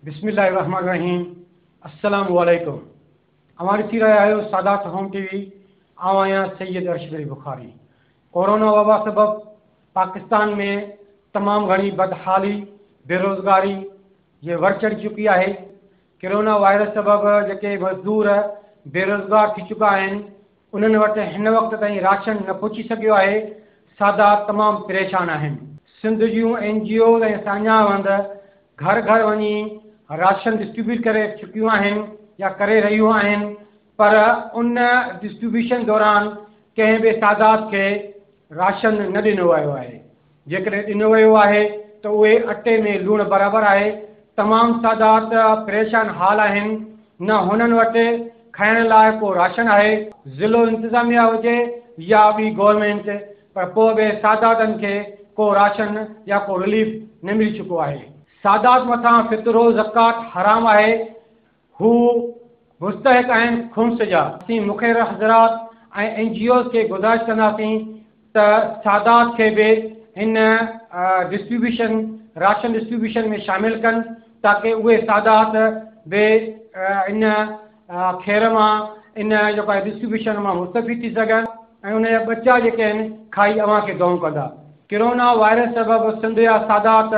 بسم الله الرحمن الرحيم السلام عليڪم اوهان ڏسي رهيا آهيو سادات هوم ٽي وي آئون آهيان سيد ارشد علي بخاري ڪورونا وبا سبب پاڪستان ۾ تمام گهڻي بدحالي بيروزگاري جي ور چڙهي چڪي آهي ڪرونا وائرس سبب جيڪي مزدور بيروزگار ٿي چڪا آهن انهن وٽ هن وقت تائين راشن نه پهچي سگهيو آهي، سادا تمام پريشان آهن. سنڌ جون اين جي اوز ۽ ساڃاهه وند گهر گهر وڃي راشن ڊسٽريبيوٽ ڪري چڪيون آهن يا ڪري رهيون آهن پر ان ڊسٽريبيوشن دوران ڪنهن به سادات کي راشن نه ڏنو ويو آهي. جيڪڏهن ڏنو ويو آهي ته اهي اٽي ۾ لوڻ برابر آهي. تمام سادات پريشان حال آهن، نه هنن وٽ کائڻ لاء ڪو راشن آهي. ضلعو انتظاميا هجي يا ٻي گورنمينٽ پر پوء به ساداتن کي ڪو راشن يا ڪو رليف نه ملي چڪو آهي. سادات مٿان فطرو زڪوات حرام آهي، هو مستحق آهن خمس جا. اسين مخير حضرات ۽ اين جي اوز کي گذارش ڪنداسين ته سادات کي به هن ڊسٽريبيوشن راشن ڊسٽريبيوشن ۾ شامل ڪن تاڪه اهي سادات به ان کير مان ان جيڪو آهي ڊسٽريبيوشن مان مستفيد ٿي سگهن ۽ ان جا ٻچا جيڪي آهن کائي اوهان کي دئون ڪندا. ڪرونا وائرس سبب سنڌ جا سادات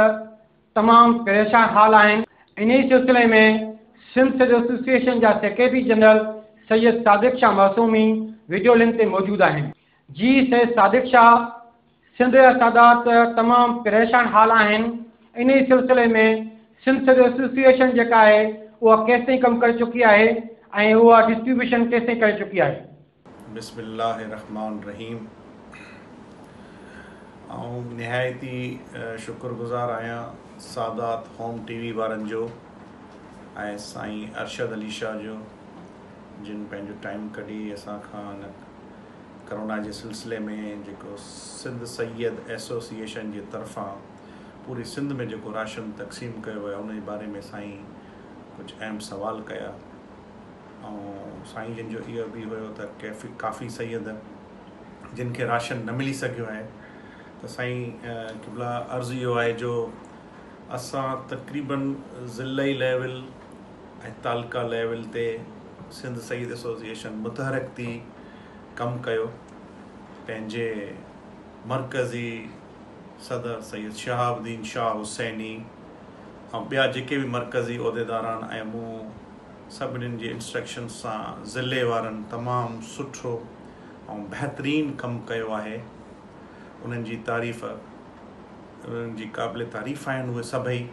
تمام پريشان حال آهن، انهي سلسلي ۾ سنڌ سول ايسوسيئيشن جا secretary general Syed Sadiq Shah Masoomi video link تي موجود آهن. جي سيد صادق شاهه سنڌ جا سادات تمام پريشان حال آهن، انهي سلسلي ۾ سنڌ سول ايسوسيئيشن جيڪا آهي اها ڪيستائين ڪم ڪري چڪي آهي ۽ اها ڊسٽريبيوشن ڪيستائين ڪري چڪي آهي. بسم الله الرحمٰن الرحيم آئون نهايت ئي شڪر گذار آهيان سادات هوم ٽي وي وارن جو ۽ سائين ارشد علي شاهه جو جن پنهنجو ٽائيم ڪڍي اسان کان ڪرونا جي سلسلي ۾ جيڪو سنڌ سيد ايسوسيئيشن جي طرفان پوري سنڌ ۾ جيڪو راشن تقسيم ڪيو ويو ان جي باري ۾ سائين ڪجهه اهم سوال ڪيا ۽ سائين جن جو اهو به هيو ته ڪيفي ڪافي سيد جن کي راشن نه ملي سگهيو آهي ته سائين قبلا عرض اهو آهي جو اسان تقريبا ضلعي ليول ۽ تعلقه ليول تي سنڌ سيد ايسوسيئيشن متحرڪ ٿي ڪم ڪيو پنهنجي مرڪزي صدر سيد شهاب الدين شاهه حسيني ۽ ٻيا جيڪي به مرڪزي عهديداران ۽ مون سڀني جي انسٽرڪشنز سان ضلعي وارن تمام سٺو ۽ بهترين ڪم ڪيو آهي انهن جي تعريف انهن جي قابل تعريف آهن اهي سڀئي.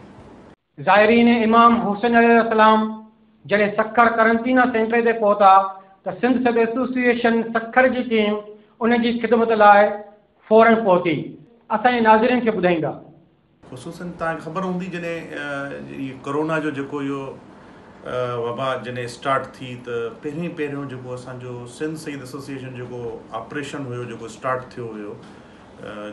زائرين امام حسين عليه السلام جڏهن سکر قرنطينه سينٽر تي پهتا ته سنڌ سڌ ايسوسيئيشن سکر جي ٽيم ان جي خدمت لاء فورن پهتي اسان جي ناظرين کي ٻڌائيندا. خصوصن توهان کي خبر هوندي جڏهن هي ڪورونا جو جيڪو اهو وبا جڏهن اسٽارٽ ٿي ته پهرين پهريون جيڪو اسان جو سنڌ سيد ايسوسيئيشن جيڪو آپريشن هيو جيڪو اسٽارٽ ٿيو هيو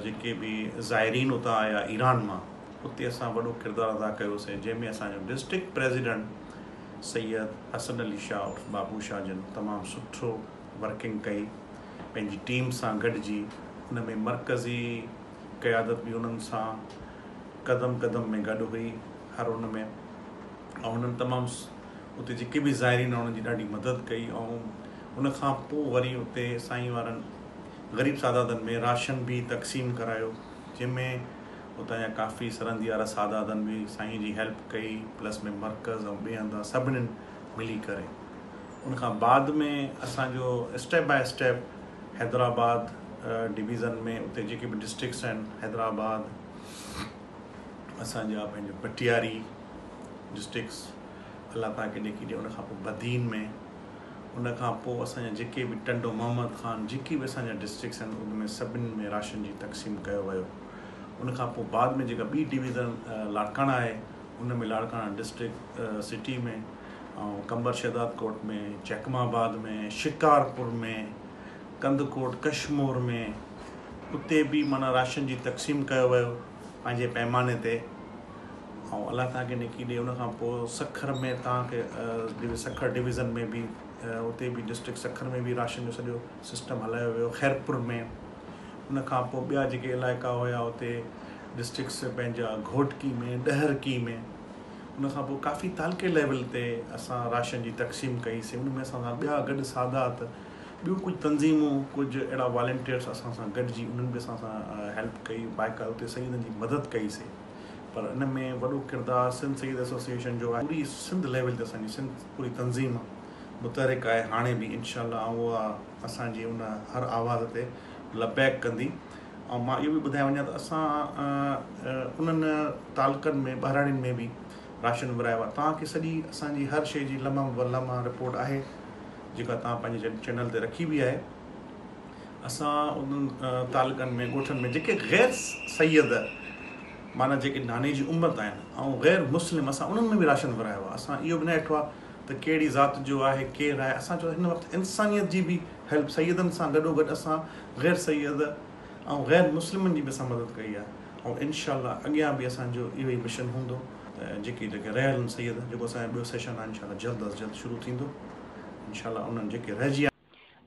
جيڪي به زائرين اتان آيا ايران مان اتي اسان وڏو ڪردار ادا ڪيوسين جنهن ۾ اسان جو ڊسٽرڪٽ پريزيڊنٽ سيد حسن علي شاهه عرف بابو شاهه جن تمام سٺو ورڪنگ ڪئي پنهنجي ٽيم سان گڏجي ان ۾ مرڪزي قيادت به انهن سان قدم قدم ۾ گڏ هئي هر ان ۾ ۽ انهن تمام اتي جيڪي به زائرين آهن انهن جي ڏاڍي مدد ڪئي ۽ ان کان پوء وري اتي سائين وارن غريب ساداتن ۾ راشن به تقسيم ڪرايو جنهن ۾ اتان جا ڪافي سرنديا رسادادن به سائين جي هيلپ ڪئي پلس ۾ مرڪز ۽ ٻئي هنڌان سڀنين ملي ڪري ان کان بعد ۾ اسان جو step by step Hyderabad division ۾ اتي جيڪي به ڊسٽرڪس آهن حيدرآباد اسان جا پنهنجا پٽياري ڊسٽرڪس الله تعالیٰ کي ڏيکي ڏي ان کان پوء بدين ۾ ان کان پوء اسان جا جيڪي به ٽنڊو محمد خان جيڪي به اسان جا ڊسٽرڪس آهن ان ۾ سڀني ۾ راشن جي تقسيم ڪيو ويو ان کان پوء بعد ۾ جيڪا ٻي ڊويزن لاڙڪاڻا آهي ان ۾ لاڙڪاڻا ڊسٽرڪٽ سٽي ۾ ۽ قمبر شهداد ڪوٽ ۾ چيڪم آباد ۾ شڪارپور ۾ ڪنڌڪوٽ ڪشمور ۾ اتي به معنيٰ راشن جي تقسيم ڪيو ويو پنهنجي پيماني تي ۽ الله تان کي نڪي ڏي ان کان پوء سکر ۾ تان کي سکر ڊويزن ۾ به اتي به ڊسٽرڪٽ سکر ۾ به راشن جو سڄو سسٽم هلايو ويو خيرپور ۾ ان کان پوء ٻيا جيڪي علائقا هيا اتي ڊسٽرڪٽس پنهنجا گهوٽڪي ۾ ڏهرڪي ۾ ان کان پوء ڪافي تعلقي ليول تي اسان راشن جي تقسيم ڪئي سي ان ۾ اسان سان ٻيا گڏ سادات ٻيون ڪجهه تنظيمون ڪجهه اهڙا والنٽيئرس اسان سان گڏجي انهن به اسان سان هيلپ ڪئي بائڪال اتي سيدن جي مدد ڪئي سي پر ان ۾ وڏو ڪردار سنڌ سيد ايسوسيئيشن جو آهي پوري سنڌ ليول تي اسان جي سنڌ پوري تنظيم متحرڪ آهي هاڻي به انشاء الله آئون اها اسان جي ان هر آواز تي لبيڪ ڪندي ۽ مان اهو به ٻڌائي وڃان ته اسان انهن تعلقن ۾ ٻهراڙين ۾ به راشن ورهايو آهي توهان کي سڄي اسان جي هر شيء جي لمحه به لمحه رپورٽ آهي جيڪا توهان پنهنجي چينل تي رکي به آهي اسان انهن تعلقن ۾ ڳوٺن ۾ جيڪي غير سيد معنيٰ جيڪي ناني جي عمر تائين آهن ۽ غير مسلم اسان انهن ۾ به راشن ورهايو آهي اسان اهو به نه ڏٺو آهي ته ڪهڙي ذات جو آهي ڪير آهي اسان چون هن وقت انسانيت جي به هيلپ سيدن سان گڏو گڏ اسان غير سيد ۽ غير مسلمن جي به اسان مدد ڪئي آهي ۽ انشاء الله اڳيان به اسان جو اهو ئي مشن هوندو. جيڪي جيڪي رهيل آهن سيد جيڪو اسان جو ٻيو سيشن آهي انشاء الله جلد از جلد شروع ٿيندو انشاء الله انهن جيڪي رهجي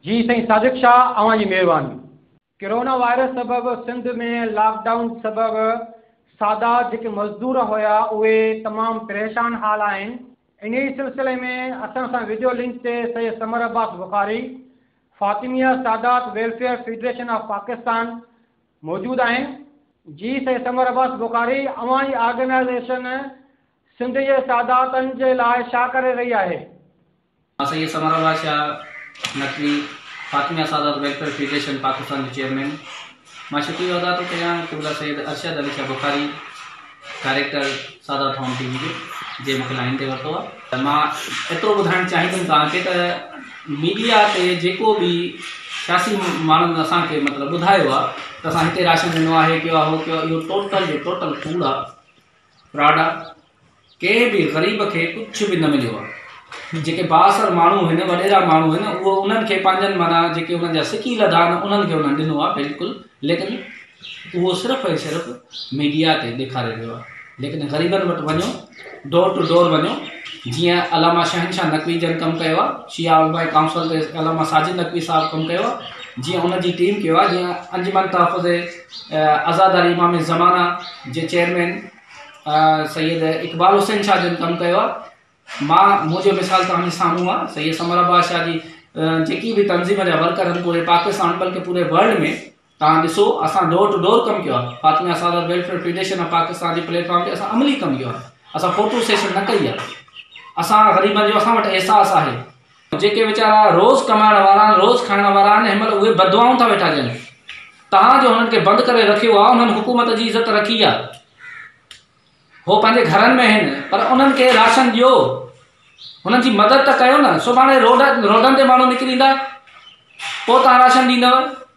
جي سائين صادق شاهه اوهان جي مهرباني. ڪرونا وائرس سبب سنڌ ۾ لاڪ ڊائون سبب سادا جيڪي مزدور هيا اهي تمام پريشان حال آهن انهي سلسلي ۾ اسان سان وڊيو لنڪ تي Syed Samar Abbas Bukhari Fatimiyah Sadat welfare federation of Pakistan موجود آهن. جي سيد ثمر عباس بخاري اوهان جي آرگنائيزيشن سنڌ جي ساداتن جي لاء ڇا ڪري رهي آهي؟ مان سيد سمر الله شاهه نقوي، فاطميه سادات ويلفيئر فيڊريشن پاڪستان جو چيئرمين، مان شڪريو ادا ٿو ڪريان قبله سيد ارشد علي شاهه بخاري، ڊائريڪٽر سادات هوم ٽي وي جو، جنهن مون کي لائين تي ورتو آهي. مان ايترو ٻڌائڻ چاهيندم توهان کي ته ميڊيا تي جيڪو به سياسي ماڻهن اسان کي مطلب ٻڌايو آهي ته اسان هتي راشن ڏنو آهي، هي ڪيو آهي، هو ڪيو آهي، اهو ٽوٽل جو ٽوٽل ڪوڙ آهي، فراڊ آهي. ڪنهن به غريب کي ڪجهه به نه مليو آهي. جيڪي بااثر ماڻهو هن وڏيرا ماڻهو هن اهو انهن کي پنهنجن معنيٰ جيڪي انهن جا سڪي لڌا آهن انهن کي انهن ڏنو آهي بلڪل ليڪن اهو صرف ۽ صرف ميڊيا تي ڏيکاري ويو آهي ليڪن غريبن وٽ وڃو ڊور ٽو ڊور وڃو جيئن علامه شهنشاهه نقوي جن ڪم ڪيو آهي شيعا علماء ڪائونسل تي علامه ساجد نقوي صاحب ڪم ڪيو آهي جيئن ان جي ٽيم ڪيو آهي جيئن انجمن تحفظ آزاداري امام زمانه جي چيئرمين سيد اقبال حسين شاهه جن ڪم ڪيو آهي مان منهنجو مثال توهان سامهون آهي سيد سمر عباس شاهه جي جيڪي به تنظيم جا ورڪر آهن پوري پاڪستان بلڪه پوري ورلڊ ۾ توهان ڏسو اسان ڊور ٽو ڊور ڪم ڪيو آهي Fatima Sadat welfare federation of Pakistan جي پليٽ فارم تي اسان عملي ڪم ڪيو آهي اسان فوٽو سيشن نه ڪئي آهي اسان غريبن جو اسان وٽ احساس آهي جيڪي ويچارا روز ڪمائڻ وارا آهن، روز کائڻ وارا آهن، هن مهل اهي بددعائون ٿا ويٺا ڏين. توهان جو هنن کي بند ڪري رکيو آهي، انهن حڪومت جي عزت رکي آهي. هو پنهنجي گهرن ۾ آهن، پر انهن کي راشن ڏيو، هنن جي مدد ته ڪيو نه. سڀاڻي روڊن تي ماڻهو نڪريندا، پوء توهان راشن ڏيندؤ.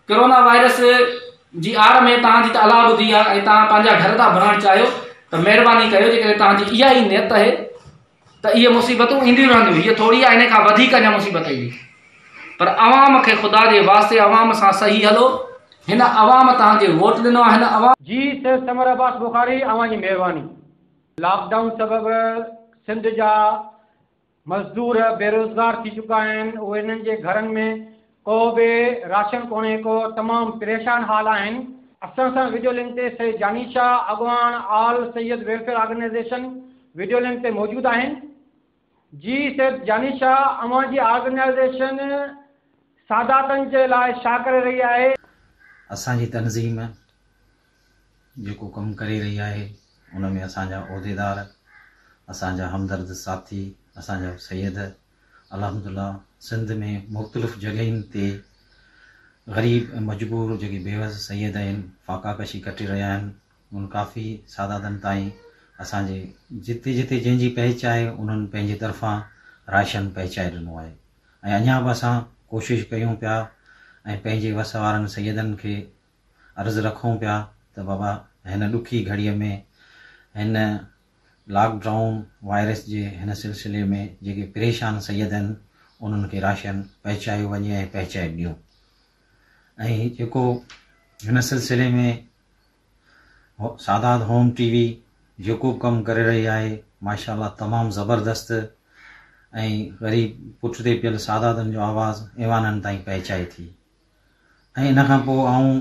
ڪرونا وائرس جي آڙ ۾ توهان جي ته الاهه ٻڌي آهي ۽ توهان پنهنجا گهر ٿا ڀرڻ چاهيو ته مهرباني ڪيو جيڪڏهن توهان جي اها ئي نيت آهي، ته اهي مصيبتون اينديون رهنديون، هيء ٿوري آ، هن کان وڌيڪ اڃا مصيبت ايندي. پر عوام کي خدا جي واسطي عوام سان صحيح هلو، هن عوام توهان کي ووٽ ڏنو آ، هن عوام. جي سيد ثمر عباس بخاري اوهان جي مهرباني. لاڪ ڊائون سبب سنڌ جا مزدور بيروزگار ٿي چڪا آهن اهي انهن جي گهرن ۾ ڪو به راشن ڪونهي ڪو تمام پريشان حال آهن. اسان سان ويڊيو لنڪ تي سيد جاني شاهه اڳواڻ all Syed welfare organisation video link تي موجود آهن. جي سيد جاني شاهه اوهان جي آرگنائيزيشن ساداتن جي لاء شا ڪري رهي آهي؟ اسان جي تنظيم جيڪو ڪم ڪري رهي آهي ان ۾ اسان جا عهديدار اسان جا همدرد ساٿي اسان جا سيد الحمدالله سنڌ ۾ مختلف جڳهين تي غريب ۽ مجبور جيڪي بيوس سيد آهن فاقا ڪشي ڪٽي رهيا آهن انهن ڪافي ساداتن تائين اسان جي جتي جتي جنهن جي پهچ آهي انهن پنهنجي طرفان راشن پهچائي ڏنو آهي ۽ اڃا به اسان ڪوشش ڪيون پيا ۽ پنهنجي وس وارن سيدن کي عرض رکون پيا ته بابا هن ڏکي گهڙي ۾ هن لاڪ ڊائون وائرس جي هن سلسلي ۾ جيڪي پريشان سيد آهن انهن کي راشن پهچايو وڃي ۽ پهچائي ڏيون ۽ جيڪو هن سلسلي ۾ سادات هوم ٽي وي جيڪو به ڪم ڪري رهي آهي ماشاء الله تمام زبردست ۽ غريب پٺتي پيل ساداتن جو آواز ايوانن تائين پهچائي ٿي ۽ ان کان پوء آئون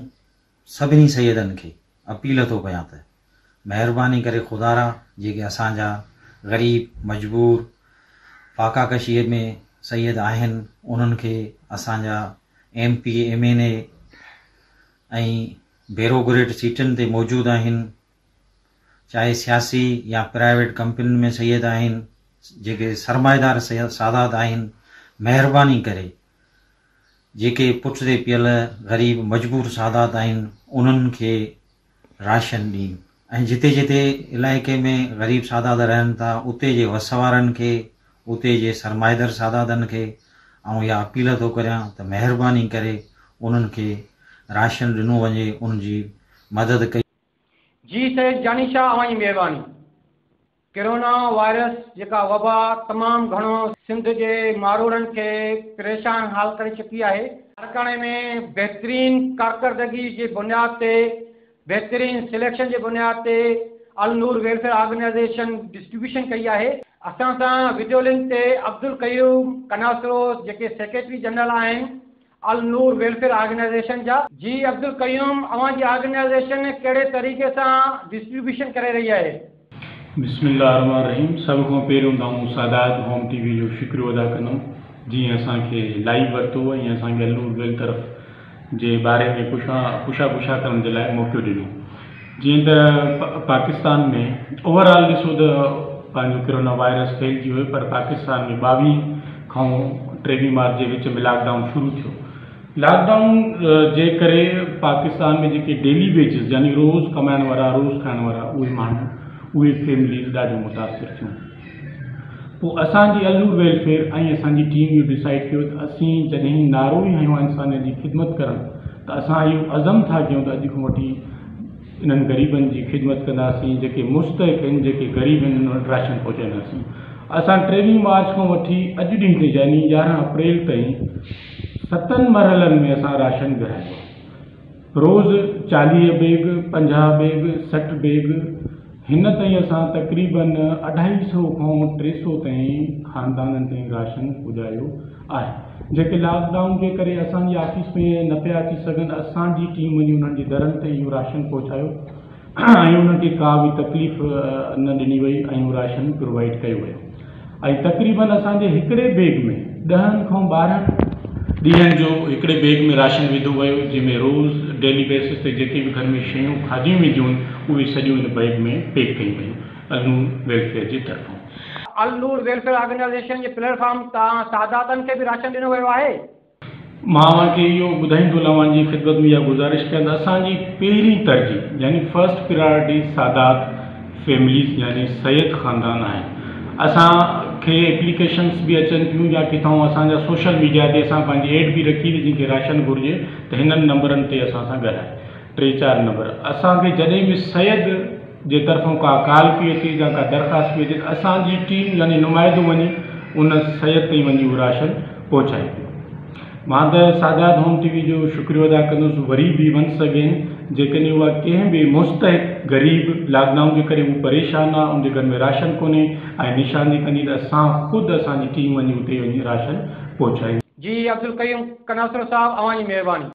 سڀني سيدن کي اپيل ٿو ڪيان ته مهرباني ڪري خدا را جيڪي اسان جا غريب مجبور فاقا ڪشيء ۾ سيد آهن انهن کي اسان جا M P M N A ۽ bureaucrat سيٽن تي موجود آهن چاهي سياسي يا پرائيويٽ ڪمپنين ۾ سيد آهن جيڪي سرمائيدار سادات آهن مهرباني ڪري جيڪي پٺتي پيل غريب مجبور سادات آهن انهن کي راشن ڏين ۽ جتي جتي علائقي ۾ غريب سادات رهن ٿا اتي جي وس وارن کي اتي جي سرمائيدر ساداتن کي آئون اها اپيل ٿو ڪريان ته مهرباني ڪري انهن کي راشن ڏنو وڃي انهن جي مدد ڪئي جي سيد جاني شاهه اوهان جي مهرباني. ڪرونا وائرس جيڪا وبا تمام گهڻو سنڌ جي ماروئڙن کي پريشان حال ڪري چڪي آهي، لاڙڪاڻي ۾ بهترين ڪارڪردگي جي بنياد تي بهترين سليڪشن جي بنياد تي النور ويلفيئر آرگنائيزيشن ڊسٽريبيوشن ڪئي آهي. اسان سان وڊيو لنڪ تي عبدالقيوم ڪناسروس جيڪي سيڪريٽري جنرل آهن النور ويلفيئر آرگنائيزيشن جا. جي عبدالقيوم اوهان جي آرگنائيزيشن ڪهڙي طريقي سان ڊسٽريبيوشن ڪري رهي آهي. بسم الله الرحمن الرحيم سڀ کان پهريون ته آئون سادات هوم ٽي وي جو شڪريو ادا ڪندم جنهن اسان کي لائيو ورتو ۽ اسان کي النور ويل طرف جي باري ۾ پڇا پڇا ڪرڻ جي لاء موقعو ڏنو جيئن ته پاڪستان ۾ اوور آل ڏسو ته پنهنجو ڪرونا وائرس ڦهلجي ويو پر پاڪستان ۾ ٻاويهه کان ٽيويهه مارچ جي وچ ۾ لاڪ ڊائون شروع ٿيو لاڪ ڊائون جي ڪري پاڪستان ۾ جيڪي ڊيلي ويجز يعني روز ڪمائڻ وارا روز کائڻ وارا اهي ماڻهو اهي فيمليز ڏاڍيون متاثر ٿيون پوء اسان جي النور ويلفيئر ۽ اسان جي ٽيم اهو ڊسائيڊ ڪيو ته اسين جڏهن نعرو ئي هنيو آهي انسانيت جي خدمت ڪرڻ ته اسان اهو عزم ٿا ڪيون ته اڄ کان وٺي انهن غريبن جي خدمت ڪنداسين جيڪي مستحق آهن جيڪي غريب آهن انهن وٽ راشن پهچائينداسين اسان ٽيويهه مارچ کان وٺي اڄ ڏينهن تي يعني يارهن اپريل تائين ستن مرحلن ۾ اسان راشن ورهايو روز چاليهه بيگ، پنجاهه بيگ، سٺ بيگ هن تائين اسان تقريبن اڍائي سئو کان ٽي سئو تائين خاندانن تائين راشن پڄايو آهي جيڪي لاڪ ڊائون جي ڪري اسان جي آفيس ۾ نه پيا اچي سگهن اسان جي ٽيم وڃي انهن جي درن تي اهو راشن پهچايو ۽ انهن کي ڪا به تڪليف نه ڏني وئي ۽ راشن پرووائيڊ ڪيو ويو ۽ تقريبن اسان جي هڪڙي بيگ ۾ ڏهن کان ٻارهن ڏينهن جو هڪڙي بيگ ۾ راشن وڌو ويو جنهن ۾ روز ڊيلي بيسس تي جيڪي به گهر ۾ شيون کاڌيون وينديون هيون اهي سڄيون ان بيگ ۾ پيڪ ڪيون ويون النور ويلفيئر جي طرفان. النور ويلفيئر آرگنائيزيشن جي پليٽ فارم تان ساداتن کي به راشن ڏنو ويو آهي. مان اوهان کي اهو ٻڌائيندو اوهان جي خدمت ۾ اها گذارش ڪيان ته اسان جي پهرين ترجيح يعني فرسٽ پريارٽي سادات فيمليز يعني سيد خاندان آهن اسان کي اپليڪيشنس به اچن ٿيون يا ڪٿائون اسان جا سوشل ميڊيا تي اسان پنهنجي ايڊ به رکي جن کي راشن گهرجي ته هنن نمبرن تي اسان سان ڳالهائي ٽي چار نمبر اسان کي جڏهن به سيد جي طرفون ڪا ڪال پئي اچي يا ڪا درخواست پئي اچي ته اسان جي ٽيم يعني نمائدو وڃي ان سيد تائين وڃي اهو راشن پهچائي ٿي مان ته سادات هوم ٽي وي جو شڪريو ادا ڪندس وري به ونس اگين جيڪڏهن اها ڪنهن به مستحق غريب لاڪ ڊائون جي ڪري هو پريشان آهي ان جي گهر ۾ راشن ڪونهي ۽ نشاندهي ڪندي ته اسان خود اسان جي ٽيم وڃي اتي وڃي راشن پهچائيندي. جي عبدالقيوم ڪناصرو صاحب اوهان جي مهرباني.